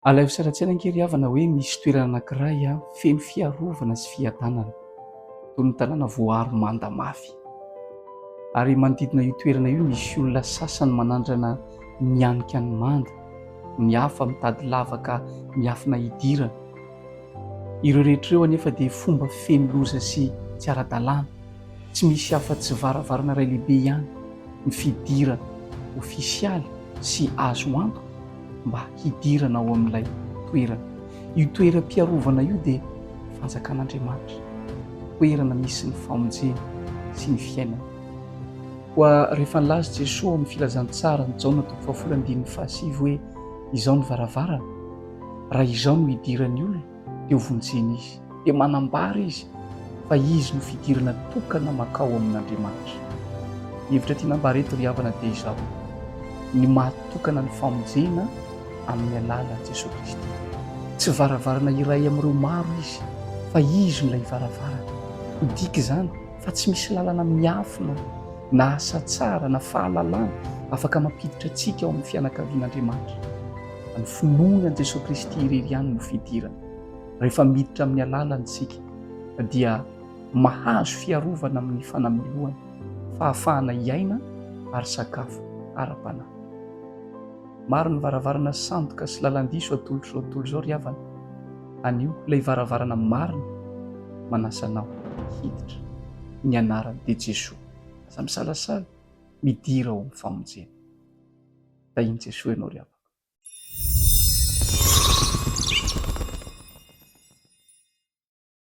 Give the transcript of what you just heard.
Alaivo sary an-tsaina ange ry havana hoe misy toerana anankiray feno fiarovana sy fiadanana, toy ny tanàna voaaro manda mafy. Ary manodidina io toerana io misy olona sasany manandrana mianika ny manda, ny hafa mitady lavaka miafina hidirana. Ireo rehetra ireo anefa dia fomba feno loza sy tsy ara-dalàna, tsy misy afa-tsy varavarana iray lehibe ihany, ny fidirana ofisialy sy azo antoka mba hidirana ao amin'ilay toerana. Io toeram-piarovana io dia fanjakan'Andriamanitra, toerana misy ny famonjena sy ny fiainana. Koa rehefa nilaza Jesoa ao amin'ny Filazantsaran'i Jaona toko fahafolo andininy fahasivy hoe, Izao ny varavarana, Raha izao no idiran'ny olona dia ho vonjena izy. Dia manambara izy fa izy no fidirana tokana mankao amin'Andriamanitra. Ny hevitra tiana ambara eto ry havana dia izao, ny mahatokana ny famonjena amin'ny alalan'i Jesoa Kristy. Tsy varavarana iray amin'ireo maro izy fa izy no ilay varavarana. Midika izany fa tsy misy lalana miafina na asa tsara na fahalalana afaka mampiditra antsika ao amin'ny fianakavian'Andriamanitra. Ny finoana an'i Jesoa Kristy irery ihany no fidirana. Rehefa miditra amin'ny alalany isika dia mahazo fiarovana amin'ny fanamelohana, fahafahana hiaina ary sakafo ara-panahy. Maro ny varavarana sandoka sy lalan-diso atolotr'izao tontolo izao ry havana. Anio ilay varavarana marina manasa anao hiditra. Ny anarany dia Jesoa. Aza misalasala, midira ao amin'ny famonjena. Tahin'i Jesoa ianao ry havako.